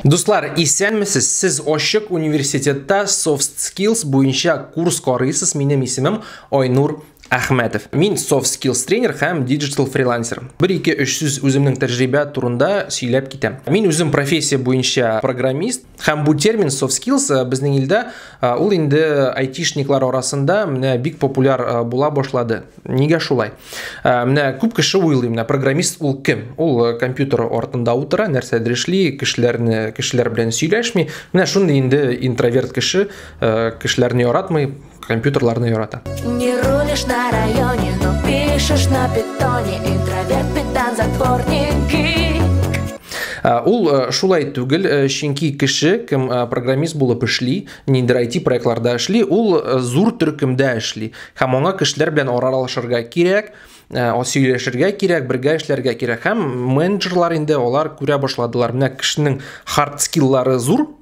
Дуслар, исәнмесез. Сез Ошык университетта soft skills буенча курс карыйсыз. Минем исемем Айнур Әхмәтов. Мин soft skills тренер һәм digital фрилансер. Бер ике өч сүз үземнең тәҗрибә турында сөйләп китәм. Мин үзем профессия буенча программист, Һәм бу термин soft skills э, безнең илдә э, ул инде айтишниклар арасында менә бик популяр э, була башлады. Нигә шулай? Менә күп кеше уйлый, менә программист ул кем? Ул компьютер артында утыра, нәрсәдер эшли, кешеләрне кешеләр белән сөйләшми. Менә шундый инде интроверт кеше, кешеләрне яратмый, компьютерларны ярата. Не рулишь на районе, но пишешь на питоне, интроверт, педан, затворники. Э, ул э, шулай түгел э, чөнки кеше кем программист булып эшли ниндидер IT проектларда эшли ул зур төркемдә эшли һәм аңа кешеләр белән аралашырга кирәк сөйләшергә кирәк, бергә эшләргә кирәк. Һәм менеджерлар инде алар күрә башладылар. Менә кешенең хард скиллары зур,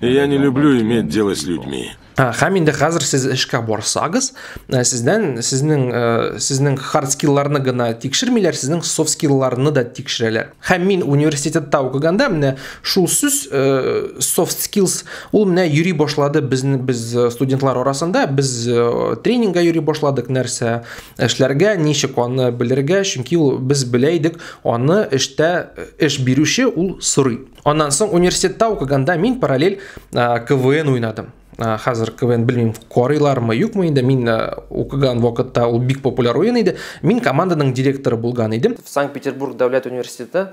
И я не люблю иметь дело с людьми. Ә, һәм инде хәзер сез эшкә барсагыз, ә, сездән сезнең ә, сезнең хард скилларны гына тикшермиләр, сезнең софт скилларны да тикшерәләр. Һәм мин университетта укыганда менә шул сүз софт skills ул менә йөри башлады безне без студентлар арасында, без тренингга йөри башладык нәрсә эшләргә, ничек аны белергә, чөнки ул без белә идек, аны эштә эш бирүче ул сорый. Аннан соң университетта укыганда мин параллель КВН уйнадым. Хәзер КВН белмим, карыйлармы, юкмы инде. Мин укыган вакытта ул бик популяр уен иде. Мин команданың директоры булган идем. Санкт-Петербург дәүләт университеты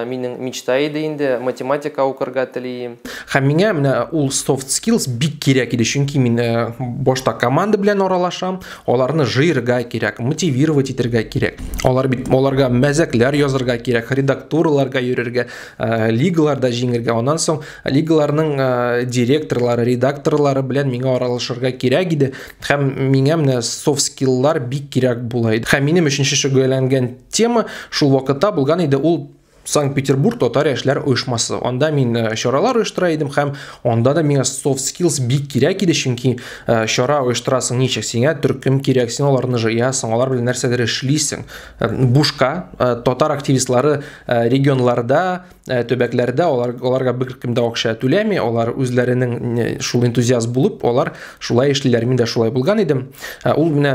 минем мечта иде инде, математика укырга телим. Һәм миңа менә ул soft skills бик кирәк иде, чөнки мин башта команда белән аралашам, Аларны жыйырга кирәк, мотивировать итергә кирәк. Алар бит аларга мәзәкләр язырга кирәк, редактурларга йөрергә, э, лигаларда җиңергә. Аннан соң лигаларның э, директорлары, редакторлары белән миңа аралашырга кирәк иде. Һәм миңа менә soft skills бик кирәк була иде. Һәм минем өченче шөгыльләнгән тема шул вакытта булган иде, ул Санкт-Петербург татар яшьләр оешмасы. Анда мин э, чаралар оештыра идем һәм анда да миңа soft skills бик кирәк иде, чөнки э, чара оештырасың ничек? Сиңа төркем кирәк, син аларны җыясың, алар белән нәрсәдер эшлисең. Э, бушка татар активистлары регионларда, төбәкләрдә алар аларга беркем дә акча түләми, алар үзләренең шул энтузиаст булып, алар шулай эшлиләр. Мин дә шулай булган идем. Ул менә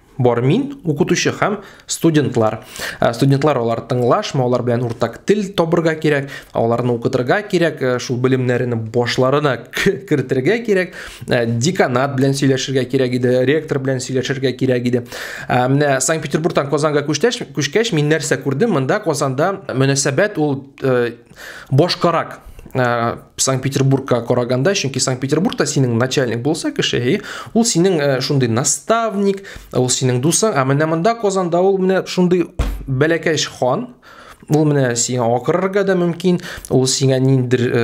Бар мин, укытучы һәм студентлар. Э, студентлар алар тыңлашма, алар белән уртак тел табырга кирәк, аларны укытырга кирәк, э, шул белемнәрне башларына кертергә кирәк, э, деканат белән сөйләшергә кирәк иде, ректор белән сөйләшергә кирәк иде. Менә Санкт-Петербургтан Казанга күчтәш, күчкәч мин нәрсә күрдем? Монда Казанда мөнәсәбәт ул башкарак ә, санкт петербургка караганда чөнки санкт петербургта синең начальник булса кеше и ул синең ә, шундый наставник ул синең дусың ә менә монда казанда ул менә шундый бәләкәч хан ул менә сиңа акырырга да мөмкин ул сиңа ниндер ә,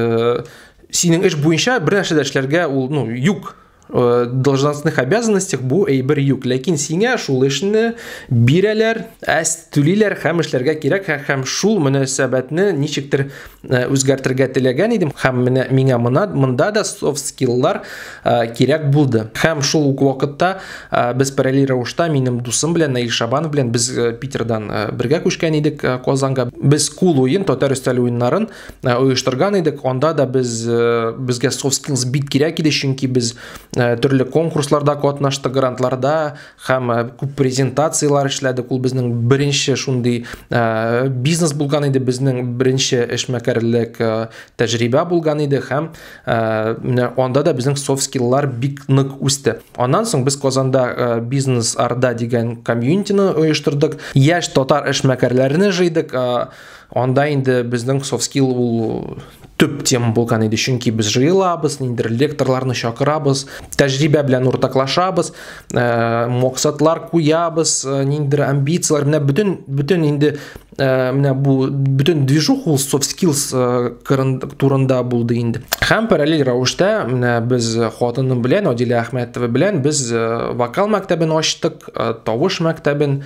синең эш буенча бер нәрсә дә эшләргә ул ну юк Э, должностных обязанностях бу әйбер юк ләкин сиңа шул эшне бирәләр әс түлиләр һәм эшләргә кирәк һәм шул мөнәсәбәтне ничектер э, үзгәртергә теләгән идем һәм менә миңа мына монда да софт скиллар э, кирәк булды һәм шул ук вакытта без параллель рәвештә минем дусым белән Наил Шабанов белән без Питердан бергә күчкән идек Казанга без кул уен татар өстәл уеннарын Э, оештырган идек анда да без э, безгә soft skills бик кирәк иде чөнки без э, төрле конкурсларда катнаштык грантларда һәм күп презентациялар эшләдек ул безнең беренче шундый бизнес булган иде безнең беренче эшмәкәрлек тәҗрибә булган иде һәм менә анда да безнең soft skillлар бик нык үсте аннан соң без казанда бизнес арда дигән комьюнитины оештырдык яшь татар эшмәкәрләрне җыйдык Анда инде безнең soft skill ул төп тема булган иде, чөнки без җыелабыз, ниндер лекторларны чакырабыз, тәҗрибә белән уртаклашабыз, э, максатлар куябыз, э, ниндер амбицияләр, менә бөтен бөтен инде э, менә бу бөтен движух ул soft skills турында булды инде. Һәм параллель рәвештә менә без хатыным белән Адилә Әхмәтова белән без вокал мәктәбен ачтык, тавыш мәктәбен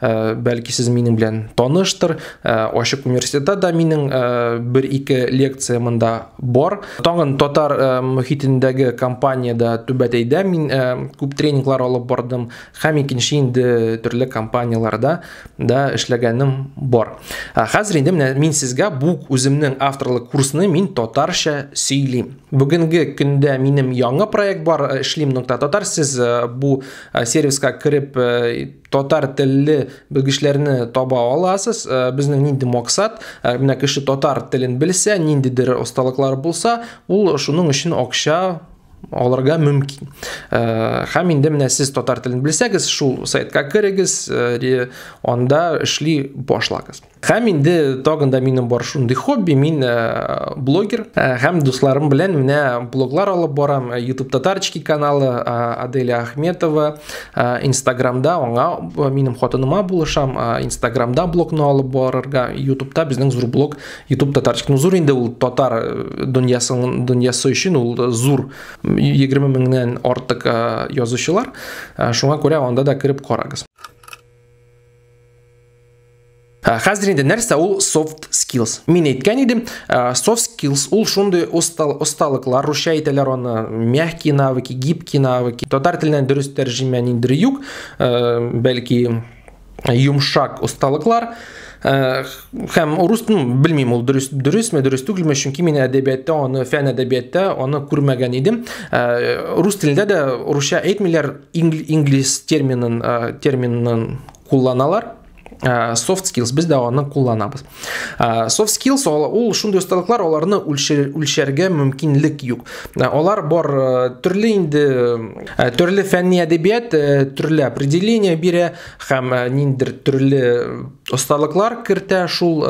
Э, бәлки сез минем белән таныштыр э, ачык университетта да минем э, бер ике лекция монда бар таңын татар мөхитендәге компаниядә түбәтәйдә мин күп тренинглар алып бардым һәм икенче инде төрле компанияләрдә да эшләгәнем бар хәзер инде менә мин сезгә бу үземнең авторлык курсны мин татарча сөйлим бүгенге көндә минем яңа проект бар эшлим нокта татар сез бу сервиска кереп татар телле белгечләрне таба аласыз. Э, безнең нинди максат? Э, менә кеше татар телен белсә, ниндидер осталыклары булса, ул шуның өчен акча алырга мөмкин. Э, һәм инде менә сез татар телен белсәгез, шул сайтка керегез, анда эшли башлагыз. Һәм инде тагын да минем бар шундый хобби, мин э, блогер э, һәм дусларым белән менә блоглар алып барам. Э, YouTube татарчики каналы Аделя Ахметова, Инстаграмда аңа минем хатыныма булышам, Инстаграмда блогны алып барырга, YouTubeда безнең зур блог YouTube татарчик. Ну зур инде ул татар дөньясының дөньясы өчен ул зур 20 меңнән артык язучылар. Шуңа күрә анда да кереп карагыз. Ә хәзер инде нәрсә ул soft skills? Мин әйткән идем, soft skills ул шундый осталыклар, русча әйтәләр аны, мягкие навыки, гибкие навыки. Татар теленнән дөрес тәрҗемә ниндер юк, бәлки йомшак осталыклар һәм урыс ну, белмим ул дөрес дөресме дөрес түгелме чөнки мин әдәбиятта аны фән әдәбиятта аны күрмәгән идем рус телендә дә русча әйтмиләр инглис терминын терминын кулланалар ә, soft skills без дә аны кулланабыз ә, soft skills ул шундый осталыклар аларны үлчәргә мөмкинлек юк ә, алар бар төрле инде төрле фәнни әдәбият төрле определение бирә һәм ниндер төрле осталыклар кертә шул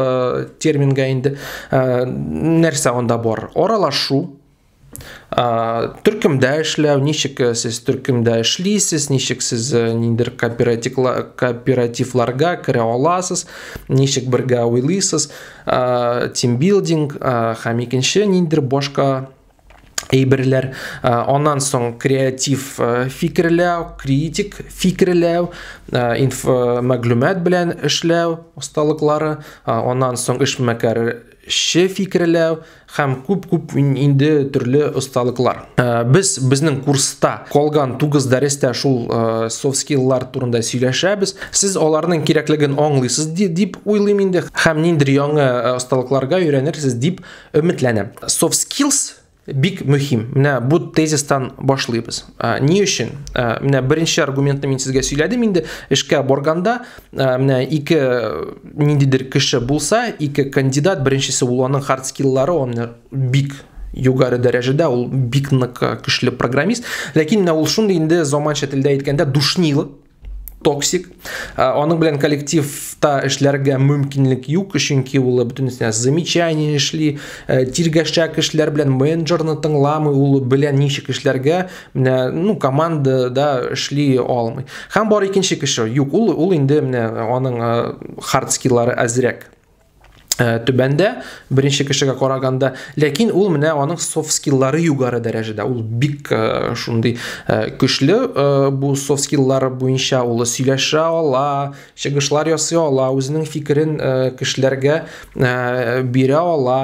терминга инде нәрсә анда бар аралашу Төркемдә эшләү, ничек э, сез төркемдә эшлисез, ничек сез э, ниндер кооперативларга керә аласыз, ничек бергә уйлыйсыз, тимбилдинг һәм икенче ниндер башка әйберләр аннан соң креатив фикерләү критик фикерләү инф мәгълүмат белән эшләү осталыклары аннан соң эшмәкәр Че фикерләү һәм күп-күп инде төрле осталыклар. Э, без безнең курста калган тугыз дәрестә шул э, soft skills-лар турында сөйләшәбез. Сез аларның кирәклеген аңлыйсыз дип уйлыйм инде һәм ниндер яңа осталыкларга э, өйрәнерсез дип өметләнәм. Soft skills Бик мөһим. Менә бу тезистан башлыйбыз. Ә, ни өчен? Ә, менә беренче аргументны мин сезгә сөйләдем инде. Эшкә барганда, ә, менә ике ниндидер кеше булса, ике кандидат, беренчесе ул аның хард скилллары, он бик югары дәрәҗәдә, ул бик нык көчле программист. Ләкин менә ул шундый инде заманча телдә әйткәндә душнило, токсик. Аның белән коллективта эшләргә мөмкинлек юк, чөнки ул бөтенесенә замечание эшли, тиргәшәк эшләр белән менеджерны тыңламый, ул белән ничек эшләргә, менә, ну, командада эшли алмый. Һәм бар икенче кеше, юк, ул, ул инде менә аның хард скиллары әзрәк. Э, түбәндә беренче кешегә караганда ләкин ул менә аның софт скиллары югары дәрәҗәдә ул бик э, шундый э, көчле бу софт скиллары буенча ул сөйләшә ала чыгышлар ясый ала үзенең фикерен кешеләргә бирә ала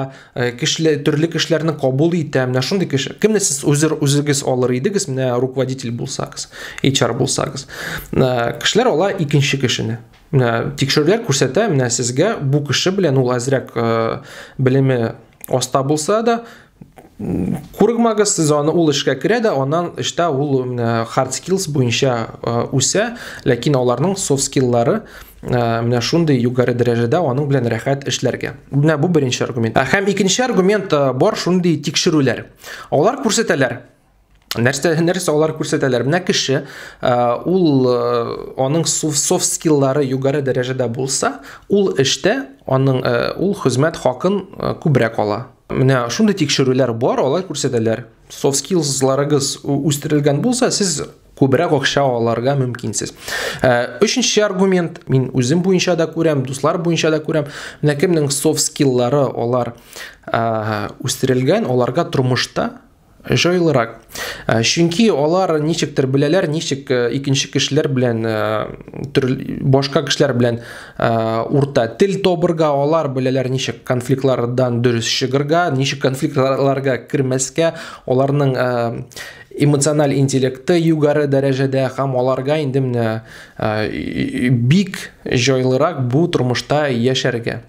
кешеле төрле кешеләрне кабул итә менә шундый кеше кемне сез үзер үзегез алыр идегез менә руководитель булсагыз HR булсагыз кешеләр ала икенче кешене Менә тикшерүләр күрсәтә, менә сезгә бу кеше белән ул әзрәк э, белеме аста булса да, Кургмагас сез аны ул эшкә керә дә, аннан эштә ул менә hard skills буенча э, үсә, ләкин аларның soft skills-лары э, менә шундый югары дәрәҗәдә аның белән рәхәт эшләргә. Менә бу беренче аргумент. Ә һәм икенче аргумент э, бар шундый тикшерүләр. Алар күрсәтәләр, Нәрсә, нәрсә алар күрсәтәләр? Менә кеше, ул аның софт скиллары югары дәрәҗәдә булса, ул эштә аның ул хезмәт хакын күбрәк ала. Менә шундый тикшерүләр бар, алар күрсәтәләр. Софт скиллсларыгыз үстерелгән булса, сез күбрәк акча аларга мөмкинсез. Өченче аргумент, мин үзем буенча да күрәм, дуслар буенча да күрәм. Менә кемнең софт скиллары алар үстерелгән, аларга тормышта Җайлырак. Э, чөнки алар ничектер беләләр, ничек э, икенче кешеләр белән э, башка кешеләр белән урта тел тобырга, алар беләләр ничек конфликтлардан дөрес чыгырга, ничек конфликтларга кермәскә, аларның эмоциональ интеллекты югары дәрәҗәдә һәм аларга инде менә бик җайлырак бу тормышта яшәргә.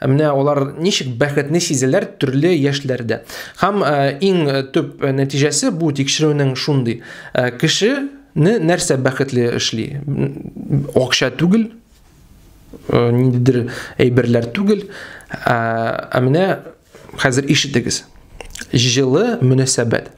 Ә менә алар ничек бәхетле сизәләр төрле яшьләрдә. Һәм э, иң э, төп э, нәтиҗәсе бу тикшерүнең шундый. Кеше не нәрсә бәхетле эшли? Акча түгел, ниндидер әйберләр түгел, ә менә хәзер ишетегез. Җылы мөнәсәбәт.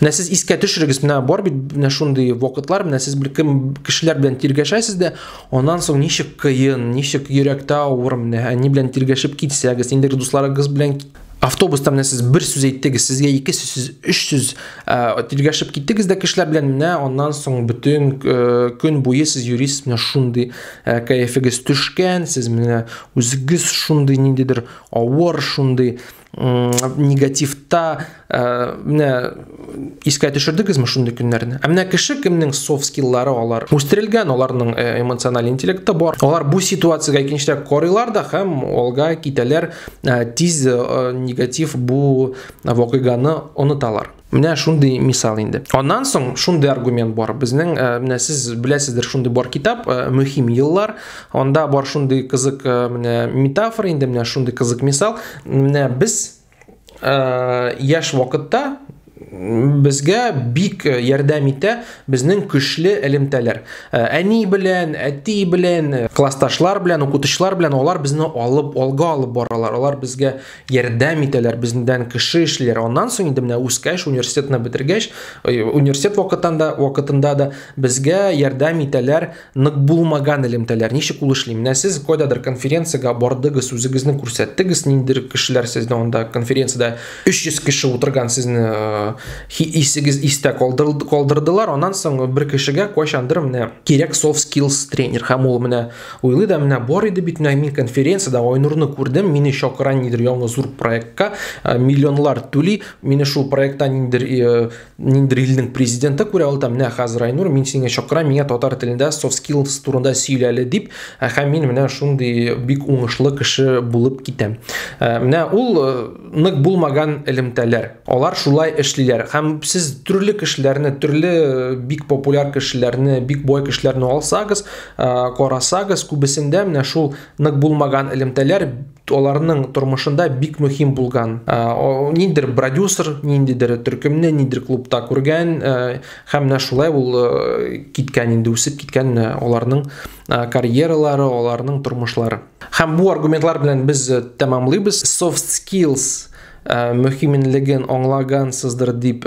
Менә сез искә төшерегез, менә бар бит менә шундый вакытлар, менә сез бер кем кешеләр белән тиргәшәсез дә, аннан соң ничек кыен, ничек йөрәктә авыр, менә әни белән тиргәшеп китсәгез, инде дусларыгыз белән автобуста менә сез бер сүз әйттегез, сезгә ике сүз, өч сүз тиргәшеп киттегез дә кешеләр белән, менә аннан соң бөтен көн буе сез йөрисез, менә шундый кәефегез төшкән, сез менә үзегез шундый ниндидер авыр, шундый негативта ә, менә искә төшердегезме шундый көннәрне ә менә кеше кемнең софт скиллары алар үстерелгән аларның э, эмоциональ интеллекты бар алар бу ситуацияга икенчерәк карыйлар да һәм алга китәләр ә, тиз ә, негатив бу вакыйганы оныталар Менә шундый мисал инде. Аннан соң шундый аргумент бар. Безнең э, менә сез беләсездер, шундый бар китап э, Мөһим еллар. Анда бар шундый кызык э, менә метафора инде, менә шундый кызык мисал. Менә без яшь вакытта безгә бик э, ярдәм итә безнең көчле элемтәләр э, әни белән әти белән э, классташлар белән укытучылар белән алар безне алып алга алып баралар алар безгә ярдәм итәләр бездән кеше эшлиләр аннан соң инде менә үскәч университетны бетергәч университет вакытында вакытында да безгә ярдәм итәләр нык булмаган элемтәләр ничек ул эшли менә сез кайдадыр конференциягә бардыгыз үзегезне күрсәттегез ниндидер кешеләр сезне анда конференциядә 300 кеше утырган сезне исегез истә калдырдылар аннан соң бер кешегә кайчандыр менә кирәк soft skills тренер һәм ул менә Уйлый да менә бар иде бит менә мин конференцияда Айнурны күрдем, мине чакыра нидер яңа зур проектка, э, миллионлар түли, мине шул проектта ниндер э, ниндер илнең президенты күрә, ул там менә хәзер Айнур, мин сине чакырам, миңа татар телендә soft skills турында сөйләле дип, э, һәм мин менә шундый бик уңышлы кеше булып китәм. Менә ул нык булмаган элемтәләр. Алар шулай эшлиләр. Һәм сез төрле кешеләрне, төрле бик популяр кешеләрне, бик бай кешеләрне алсагыз, Э, карасагыз күбесендә менә шул нык булмаган элемтәләр аларның тормышында бик мөһим булган э, ниндидер продюсер ниндидер төркемне ниндидер клубта күргән э, һәм менә шулай ул киткән инде үсеп киткән аларның карьералары аларның тормышлары һәм бу аргументлар белән без тәмамлыйбыз soft skills мөһимлеген аңлагансыздыр дип